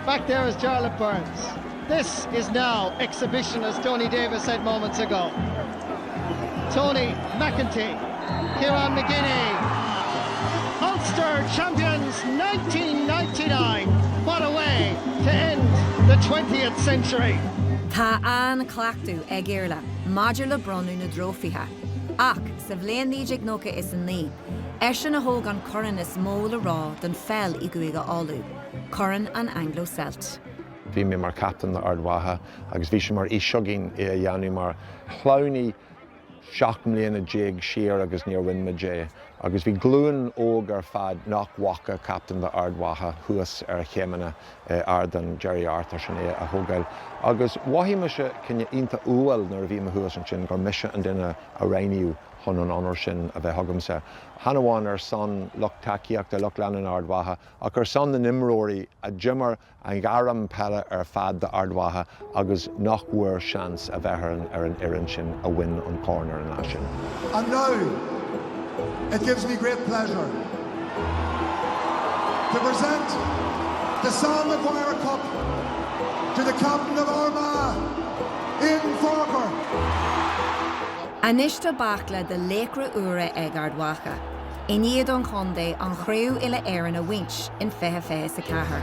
Back there is Jarlath Burns. This is now exhibition as Tony Davis said moments ago. Tony McEntee, Kieran McGinney, Ulster champions 1999. What a way to end the 20th century. Tá an-chleachtadh ag Iarlaith maidir le bronnadh na dtrófaithe, ach sa bhliain 1999, Eisean a thóg an corn is mó le rá don pheil i gCúige Uladh, Corn an Anglo Celt. Bhí mé mar captain le Ard Mhacha agus bhí sé mar fhís againn é a dhéanamh mar Chlannaí seacht mbliana déag siar agus níor bhain muid é agus bhí glúin óg ar fad nach bhfaca captain le Ard Mhacha thuas ar chéimeanna Ardán Gerry Arthurs is é a thógáil agus mhothaigh mise cineál iontach umhal nuair a bhí mé thuas ansin gur mise an duine a roghnaíodh. chun an onóir sin a bheith agamsa, chan amháin ar son lucht tacaíochta lucht leanúna Ard Mhacha, ach ar son na n-imreoirí a d'imir a ngairm peile ar fad d'Ard Mhacha agus nach bhfuair seans a bheith ar an fhoireann sin a bhain an Corn ar an lá sin. And now, it gives me great pleasure, to present the Sam Maguire Cup to Captain of Armagh, Aidan Forker. Anois tá baicle de laochra úra ag Ard Mhacha i ndiaidh don chontae an chraobh uile-Éireann a bhaint in 2024.